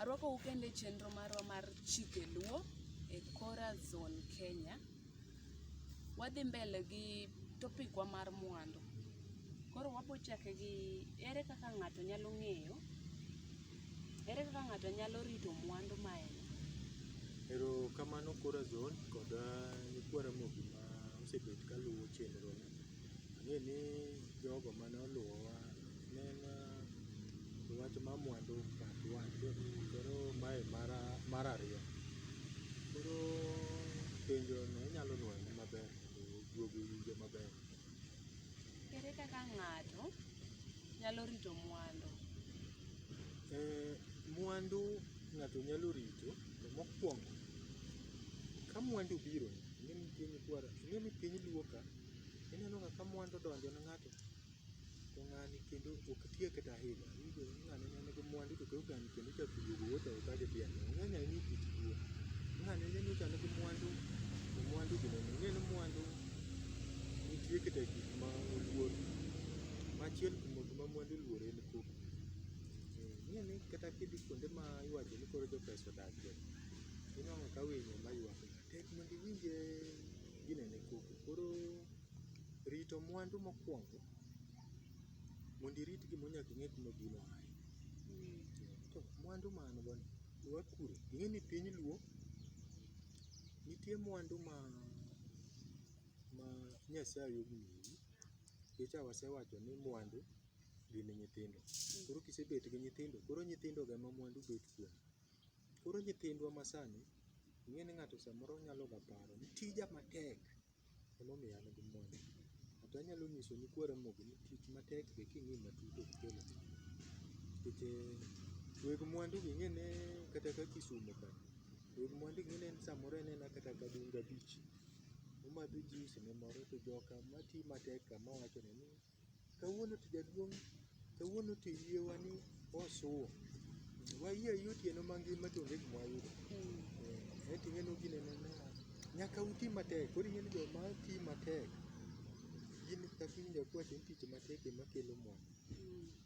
Arwako ukende chenro marwa mar chike luo e Kora Zone Kenya. Wadhi mbele gi topic wa mar mwandu. Koro wabo chake gi ere kaka ng'ato nyalo ng'eyo Ere kaka ng'ato nyalo rito mwandu ma en go? Ero kamano Kora Zone kod nyikwa Ramogi ma osebet ka luwo chenro ni. Ang'e ni jogo mane oluwowa ne en wach mar mwandu part one koro mae mara mar ariyo. Koro penjo no inyalo nwoyo maber mondo duogo owinjo maber. Ere kaka ng'ato nyalo rito mwandu? Eh, mwandu ng'ato nyalo rito to mokwongo ka mwandu biro ing'e ni piny kwara ing'e ni piny luo ka ineno ga ka mwandu odonjo ne ng'ato to ng'ani kendo ok tiye kata ahinya Kata mwandu to koro kan kendo ichak iduogo wuoth oko ka gidhi ane. Ng'eny ahinya e kit tuo. Ng'a ne ni chande gi mwandu, to mwandu gi nene. Ing'e ni mwandu nitie kata gik ma oluor. Machiel kuom gik ma mwandu oluor en koko. Eh, Ing'e ni kata kidhi kuonde ma iwacho ni koro jo pesa odakie, inwang'o ka winyo ma ywak ni tek mondo iwinje ginene koko. Koro rito mwandu mokwongo Mondo irit gimoro nyaka ing'e kuma gino aye. To mwandu ma an go ni be wakure. Ing'e ni piny Luo nitie mwandu ma ma Nyasaye omiyi. Nikech a wasewacho ni mwandu gin nyithindo. Koro kisebet gi nyithindo koro nyithindo go ema mwandu bet kuom gi. Koro nyithindwa ma sani ing'e ni ng'ato samoro nyalo ga paro ni tija matek. Emomiyo an gi mwandu. But anyalo nyiso nyikwa Ramogi ni tich matek be king'i matut ok kel mwandu. Nikech eh, weg mwandu gi ing'e ne kata ka Kisumo ka, weg mwandu gi ing'e ne samoro en ena kata ka Dunga Beach. Omadho juice ne moro to joka mati matek ka mawacho ne ni Kawuono to jaduong' kawuono to yie wa ni osuo. Wayie ayie otieno mangima to onge gima wayudo. Eh, Aeto ing'e ni gine ne na. Nyaka uti matek. Koro ing'e ni joma ti matek gin kaka iwinjo ka iwacho ni tich matek ema kelo mwandu.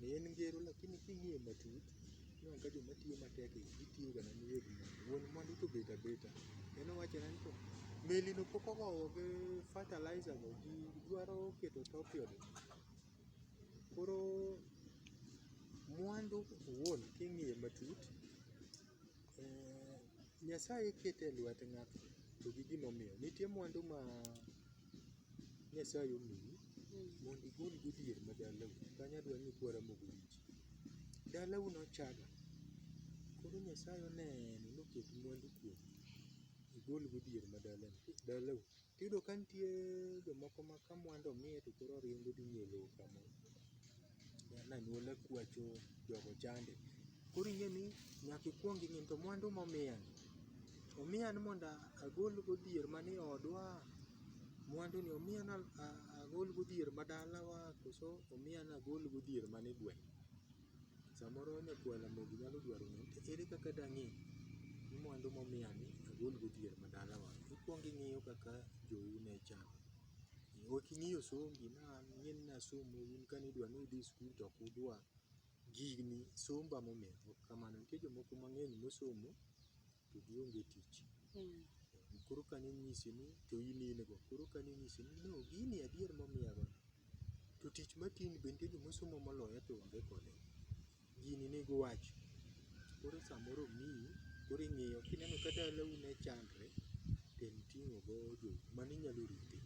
Ni en ngero lakini king'iye matut Ineno ka joma tiyo matek gi gitiyo ga mana weg mwandu. Wuon mwandu to obet abeta. En owacho na ni to meli no pok ogoyo gi fertilizer go ji dwaro keto topion. Koro mwandu owuon king'iye matut, eh, Nyasaye kete e lwet ng'ato to gi gimomiyo. Nitie mwandu ma Nyasaye omiyi mondo igol go dhier ma dalau. Kanyo adwa ni ikwara mogo wich. Dalau nochaga, koro Nyasaye oneno noket mwandu kuomi, igol go dier ma dalani dalau. Tiyudo ka nitie jomoko ma ka mwandu omiye to koro oringo odhi ng'iyo lowo kamoro. An anyuola kwacho jogo chande. Koro ing'e ni nyaka ikwong ing'i ni to mwandu momiyani, omiya ni mondo agol go dier manie odwa Mwandu ni omiya ni agol godhier ma dalawa koso omiya ni agol godhier man e gweng'. Samoro nyakwar Ramogi nyalo dwaro ng'eyo ni to ere kaka dang'e ni mwandu momiya ni agol godhier ma dalawa. Ikwongo ing'iyo kaka jou ne chalo. Ok ing'iyo sombi ni an ing'e ni nasomo un kane idwa ni udhi skul to ok udwa. Gini somba momiya ok kamano. Nitie jomoko mang'eny mosomo. to gionge tich. Koro ka ninyisi ni to in in go, koro ka ninyisi ni no gini adier momiyago ni to tich matiyoni be nitie joma osomo moloya to onge kode. Gini nigi wach, koro samoro omiyi koro ing'iyo kineno ka dalau ne chandre to en ting'o go jo mano inyalo rite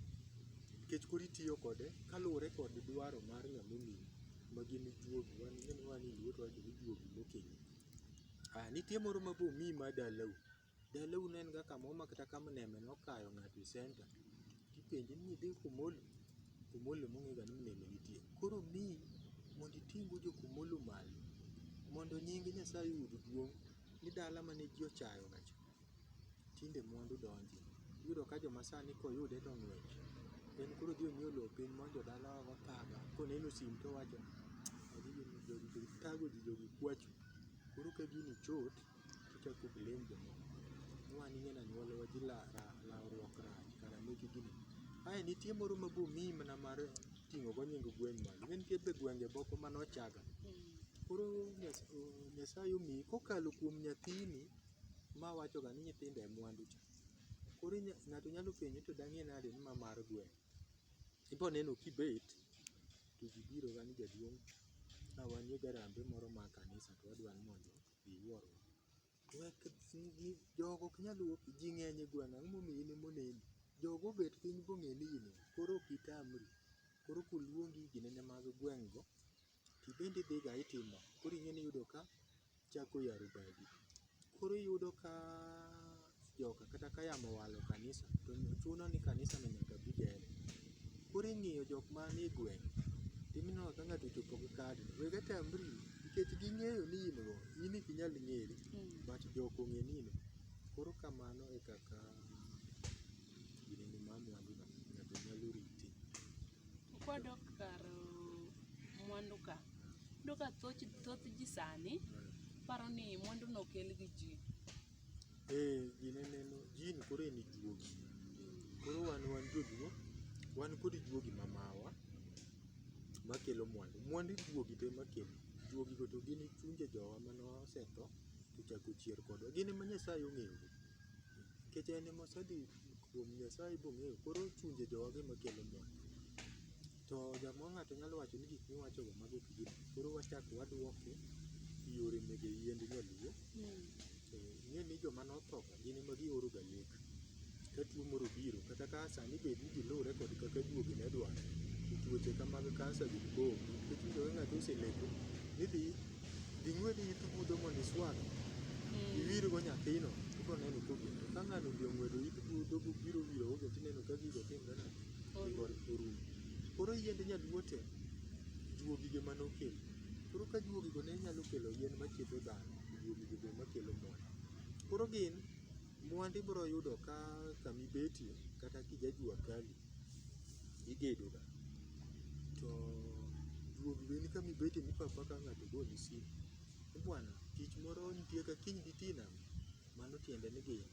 nikech koro itiyo kode kaluwore kod dwaro mar ng'ama omiyi ma gin juogi wan ing'e ni wan e luo to wawacho ni juogi mokinyi. Ah, nitie moro ma bomi ma dalau. Dalau ne en ga kamoro ma kata ka mneme nokayo ng'ato e center, tipenje ni idhi Kumolo? Kumolo ema ong'ega ni mneme nitie. Koro omiyi mondo iting' go jo Kumolo malo mondo nying Nyasaye oyud duong' ni dala mane ji ochayoga cha tinde mwandu donje. Iyudo ka joma sani koyude to ng'wech. En koro odhi onyiew lowo piny ma jodala ogo thaga. Koneno sim to owacho ni "Magi gini jogi be thago ji jogi kwacho. Koro ka gini chot to ochak o blame jomoko. Ni wan ing'e ni anyuolawa ji la la lawruok rach kara meki gini. Ae nitie moro ma bomiyi mana mar ting'o go nying gweng' malo. Ne nitie be gwenge moko mane ochaga. Koro Nyasaye omiyi kokalo kuom nyathini Ma wacho ga ni nyithindo e mwandu cha. Koro inya ng'ato nyalo penjo ni to dang'e nade ni ma mar gweng'? Ibo neno kibet to ji biro ga ni jaduong' ka wan gi garambe moro mar kanisa to wadwa ni mondo iwuorwa. Wek ni jogo ok nyal wuok ji ng'eny e gweng' ang'o momiyo in ema oneni? Jogo obet piny bong'e ni in e. Koro ok itamri, koro koluongi ginene mag gweng' go. to ibende idhiga itimo koro ing'e ni iyudo ka chak oyaro badi. Koro iyudo ka joka kata ka yamo owalo kanisa to chuno ni kanisa no nyaka bi gere. Koro ing'iyo jok manie gweng' to ineno ka ng'ato ochopo gi kad ni wega tambri nikech ging'eyo ni in go in ok inyal ng'eri but jok ong'e ni in go. Koro kamano e kaka Ginene mar mwandu na ng'ato nyalo rite. Kwadok kar uh, mwandu ka, iyudo ka thoth, thoth ji sani paro ni mwandu no okel gi ji. Eh, ginene no jin koro en juogi. Koro wan wan joluo, wan kod juogi ma mawa makelo mwandu. Mwandu juogi to ema kelo. Juogi go to gin chunje jowa mane osetho to ochako ochier kodwa. Gin ema Nyasaye ong'eyogi. nikech en ema osedhi kuom Nyasaye bong'eyo koro chunje jowagi ema kelo mor. To jamoo ng'ato nyalo wacho ni gik miwacho go mago ok gin adier. Koro wachak waduoke e yore mege yiend nyaluo. To ing'e ni joma notho ka gin ema gioro ga lek ka tuo moro obiro kata ka sani bed ni gilure kod kaka duogi ne dwaro to tuoche ka mag kansa gi koko nikech iyudo ka ng'ato oseleko ni idhi Dhi ng'wed it budho mondo iswag. Hmm. Iwirgo nyathino, ibiro neno kogendo. Ka ng'ano odhi ong'wedo it budho biro wiro ogo tineno ka gigo timre na orumo. Koro yiend nyaluo te juogige mane okelo. Koro ka juogigo ne nyalo kelo yien machiedho dhano, juogigo be makelo mwandu. Koro gin mwandu ibiro yudo ka kamibetie kata kijajua kali. igedo ga to duog lweni kama ibete mipa apaka ng'ato ogoni simu ni bwana tich moro nitie ka kiny ditii e nam mano tiende ni gin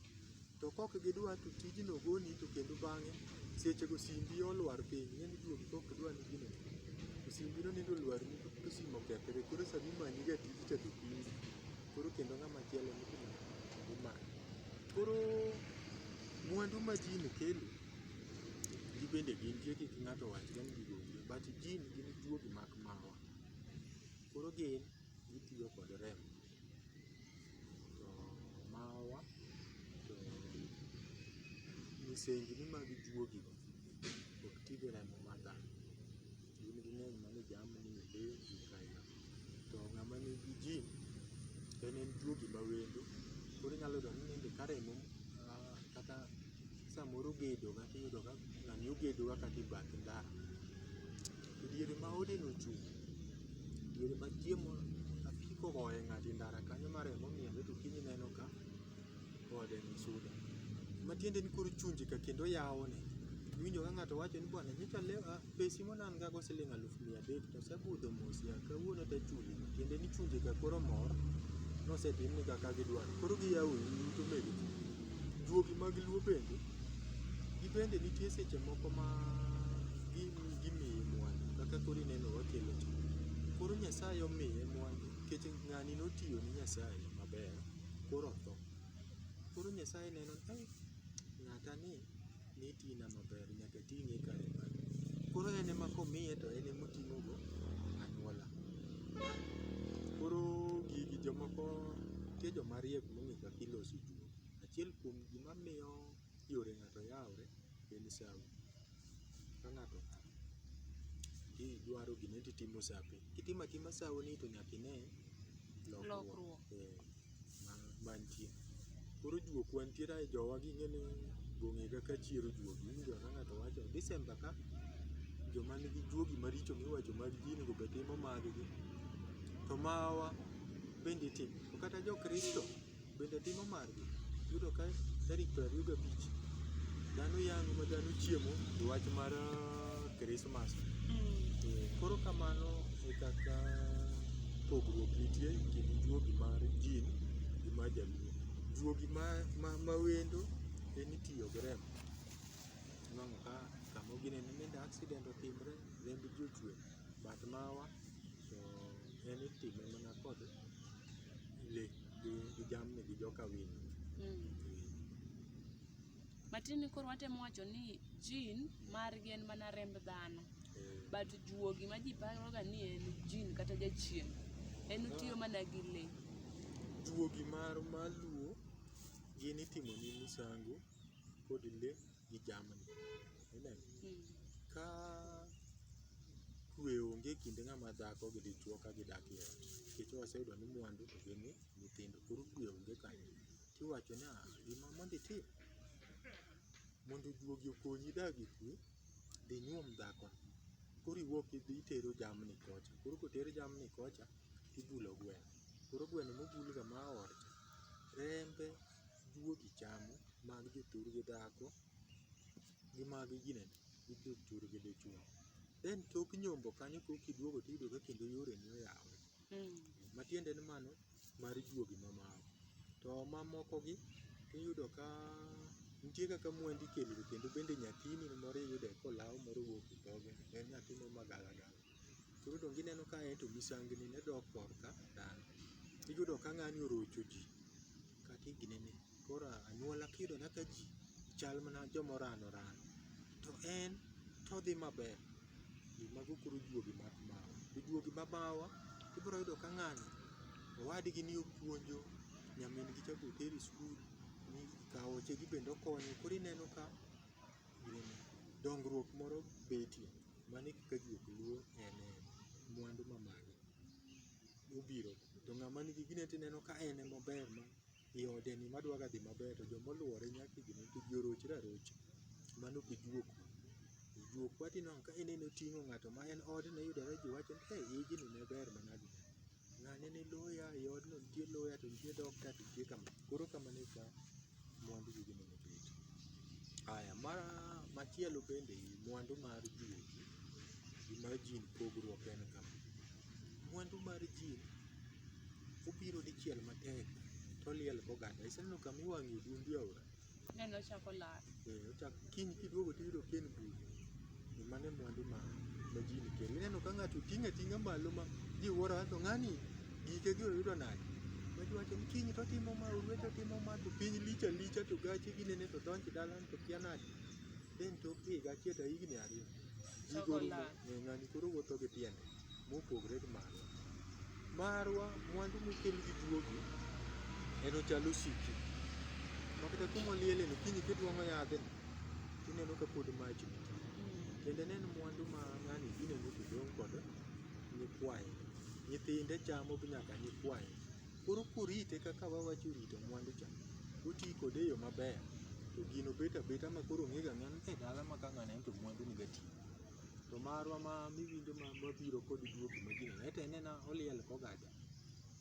to kok gidwa to tijno ogoni to kendo bang'e sechego simbi olwar piny ing'eni duogi kok idwa ni gino to simbi no nindo olwar ni to simu okethre koro sama imanyi ga tiji cha to piny koro kendo ng'ama chielo ni imanyo koro mwandu ma ji ni kelo Gin bende gintie kik ng'ato owachre ni gigo onge but jin gin juogi mak marwa. Koro gin gitiyo kod remo to marwa to misengni mag juogigo ok ti gi remo mar dhano. gin ging'eny mano jamni, le, gik aila. To ng'ama nigi gym en en tuo gima wendo koro inyalo yudo ni nende ka remo ah, kata samoro ogedo kata iyudo ka ng'ani ogedo kaka e bath ndara. To diere ma odeno ochung', diere ma chiemo apiko ogoye ng'ato e ndara kanyo ma remo miele to kiny ineno ka ode ni suda. Matiende ni koro chunje ka kendo yawone. Iwinjo ka ng'ato wacho ni bwana nyocha alewo ah, Pesi monan'g go siling aluf mia adek to osebudho mos yawa, kawuono to achuli. Tiende ni chunje ka koro mor ni osetim negi kaka gidwaro. Koro giyawo ii in to omedo chuli. Juogi mag luo bende, gin bende nitie seche moko ma gimiyi mwandu kaka koro ineno wakelo cha. Koro Nyasaye omiye mwandu nikech ng'ani notiyo ne Nyasaye maber koro otho. Koro Nyasaye neno ni ai, ng'ata ni. ni ti na maber nyaka ting'e e kare mare. Koro en ema komiye to en ema oting'o go anyuola. Koro gigi jomoko nitie joma riek mong'e kaka iloso juok. Achiel kuom gima miyo yore ng'ato yawore en sawi. Ka ng'ato otho to idwaro gimoro to itimo sape. Itimo atima sawoni to nyaka ine lokruok. Lokruok. Ee. mantie. Koro juok wantiere ae jowa ging'e ni gong'e kaka chier ojuogi. Iwinjo ka ng'ato wacho December ka joma nigi juogi maricho miwacho mag ji onego bed timo mag gi. To mawa bende itimo. To kata jo Kristo bende timo margi. Iyudo ka tarik piero ariyo gabich dhano yang'o ma dhano chiemo e wach mar Kristo. Master. Mm. Koro kamano e kaka pogruok nitie e kind juogi mar jin gi mar jaluo. Juogi ma, ma, ma wendo en itiyo gi remo. Iwang'o ka kama ginene nende accident otimre, remb ji ochwe. But mawa to en itime mana kod le gi, gi jamni gi joka winy. Mm. Matin ni koro watemo wacho ni jin margi en mana remb dhano. Eh. But juogi ma ji paroga ni en jin kata jachien, en otiyo ah. mana gi le. Juogi mar maluo gin itimo ni misango kod le gi jamni. Amen. Hmm. Ka kwe onge kinde ng'ama dhako gi dichuo ka gidak e ot. Nikech waseyudo ni mwandu to gin nyithindo. Koro kwe onge kanyo. Tiwacho ni ah, gima mondo itim mondo juogi okonyi idag e kwe, dhi nyuom dhako. Koro iwuok idhi itero jamni kocha. Koro koter jamni kocha, ibulo gweno. Koro gweno mobulga ma orcha, rembe juogi chamo, mag jothurgi dhako gi mag ginene, gi jothurgi dichwo. Then tok nyombo kanyo kokiduogo tiyudo ka kendo yoreni oyawore. Mm. Matiende ni mano mar juogi ma moko. To ma moko gi iyudo ka nitie kaka mwandu ikelo ga kendo bende nyathini moro iyudo ka olaw moro owuok e dhoge en nyathi moro ma gala gala. Koro donge ineno ka ento misengni ne dok kor ka dhano. Iyudo ka ng'ani orocho ji kata e gine ne. Koro anyuola kiyudo mana ka ji chal mana joma orano orano to en to odhi maber. Mago koro juogi mag mawa. To juogi ma mawa ibiro yudo ka ng'ani owadgi ni opuonjo, nyamin gi cha be otero e skul, kaoche gi bende okonyo koro ineno ka dongruok moro betie. Mano e kaka juok luwo en en. Mwandu ma magi mobiro to ng'ama nigi gine to ineno ka en ema ober ma e ode ni madwa ga dhi maber to joma oluore nyaka idhi negi to ji orochre arocha mano ok ijuo kuno. Ijuo kuno to ineno ka ineno oting'o ng'ato ma en odno iyudore ji wacho ni ei ijni ne ber manadi. Ng'ane ni loya e odno nitie loya to nitie dokta to nitie kama. Koro kamano e ka mwandu gi gino no bedo. Aya, mar machielo bende i mwandu mar juogi gi mar jin pogruok en kama. Mwandu mar jin Obiro dichiel matek toliel koganda. Iseneno kama iwang'e odundu e aora? Neno ochako lal. Eh, ochak kiny kiduogo tiyudo ka en buru. Ni mano e mwandu ma ma ji nikelo. Ineno ka ng'ato ting'e ating'a malo ma ji wuoro to ng'ani gike gi oyudo nade? Ma ji wacho ni kiny to otimo ma, orwet otimo ma, to piny lich alicha to gache ginene to donj dalani to kia nade. Then tok higa achiel to higni ariyo. Ji Choko gorumo. lal. Omiyo ng'ani koro wuotho gi tiende mopogre gi marwa. Marwa mwandu mokel gi juogi en ochal osiki. Ma kata kuma oliele no kiny kitwang'o yadhe tineno ka pod mach nitie. Kendo en en mwandu ma ng'ani ineno kodong' kod nyikwaye. Nyithinde chamo gi nyaka nyikwaye. Koro kurite kaka wawacho rito mwandu cha, uti kode e yo maber to gino bet abeta ma koro ong'ega ng'ani e dala ma ka ng'ani en to mwandu ni gatigo. to marwa ma miwinjo ma mabiro kod duogo ma jina ete nena oliel kogada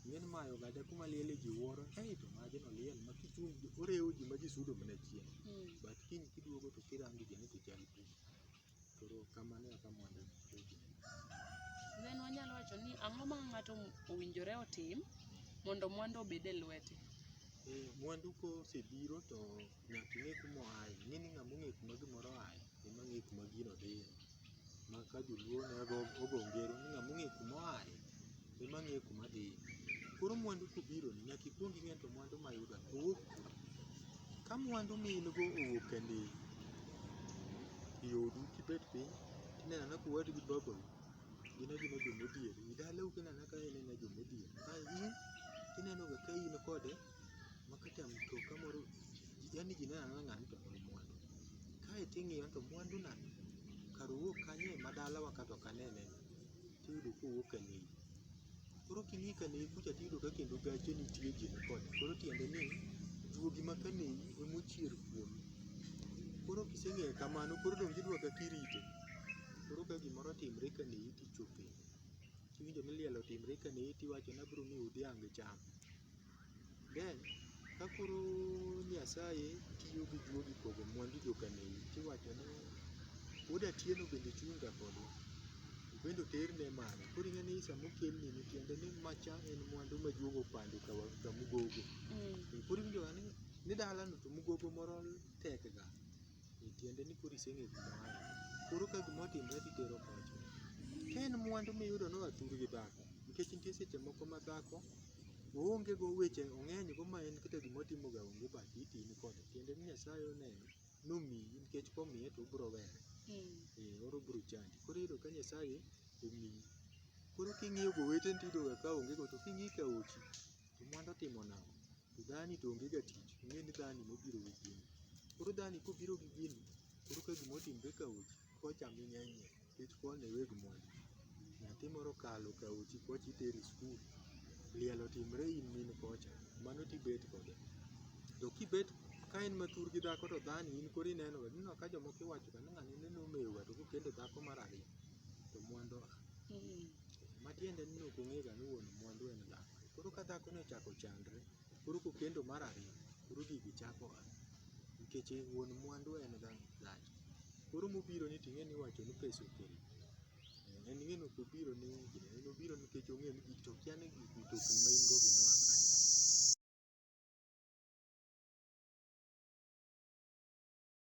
ng'en mayo gada kuma liel ji wuoro ei to maji no liel ma kichung orewo ji ma ji sudo mana chien Mm. but kiny kiduogo to kirango jeni to chal pi koro kamano eka mondo oji Then wanyalo wacho ni ang'o ma ng'ato owinjore otim mondo mwandu obed e lwete. Eh, mwandu kosebiro to nyaka ing'e kuma oaye ing'e ni ng'ama ong'e kuma gimoro oaye ema ng'e kuma gino dhiye. Ma ka joluo ne go ogo ngero ni ng'ama ong'e kuma oaye ema ng'e kuma dhiye. Koro mwandu kobironi nyaka ikwong ing'e to mwandu mayudo ni owuok kanye. Ka mwandu ma in go owuok e ndiwo, e odu kibet piny tineno anena ka uwadu gi babau gin agina joma odhier, e dalau ineno anena ka en e joma odhier, ka in to inenoga ka in kode ma kata mtoka moro yani ji neno anena ng'ani to en mwandu. Kae to ing'iyo to mwandu na kar owuog kanyo e ma dalawa ka to ok anene ni tiyudo ka owuok ka Nyeri. Koro king'i ka Nyeri kucha tiyudo ka kendo gache nitie ji ni kode koro tiende ni juogi ma ka Nyeri ema ochier kuome. Koro kiseng'eyo kamano koro donge idwa kaka irite. Koro ka gimoro otimre ka Nyeri to ichopo ire. Kiwinjo ni liel otimre ka Nyeri to iwacho ni abiro miyi dhiang' icham. Then ka koro Nyasaye tiyo gi juogi pogo mwandu jokaneyi tiwacho ni wuod Atieno bende chung' ga kodwa, obende oterne malo. Koro ing'e ni sama okelni ni tiende ni macha en mwandu ma juogi opando ka wa- ka mugogo. Koro iwinjo ga ni ni dalano to mugogo moro tek ga. Tiende ni koro iseng'eyo kuma oaye. Koro ka gima otimore to itero pacho. Ka en mwandu miyudo ni oa thuru gi dhako, nikech nitie seche moko ma dhako oonge go weche ong'eny go ma en kata gima otimo ga onge but itin kode. Tiende ni Nyasaye oneno nomiyi nikech komiye to obiro were. Ee oro biro chandi. Koro iyudo ka Nyasaye omiyi. Koro king'iyo go weteni to iyudo ga ka onge go to king'iyo e aochi to mwandu otimo nang'o? to dhani to onge ga tich, ing'e ni dhani nobiro gi gini. Koro dhani kobiro gi gini, koro ka gima otimre ka ochi, kochame ng'enyie nikech koni e weg mwandu. Nyathi moro okalo ka ochi kocha itere e skul, liel otimre in min kocha, mano to ibet kode. To kibet ka en ma thur gi dhako to dhani in koro ineno ga, ineno ka jomoko iwacho ga ni ng'ani nende omewo ga to kokendo dhako mar ariyo to mwandu a. Matiende ni ok ong'e ga ni wuon mwandu en dhako. Koro ka dhako ni ochako chandre, koro kokendo mar ariyo, koro gigi chako a. Nikech wuon mwandu en ga dhako. Koro mobiro ni ting'e ni iwacho ni pesa okelo. En ng'eno kobiro ni gini, en obiro nikech ong'eyo ni gigi to okia ni gigi mtokni ma in go gi noa kanye.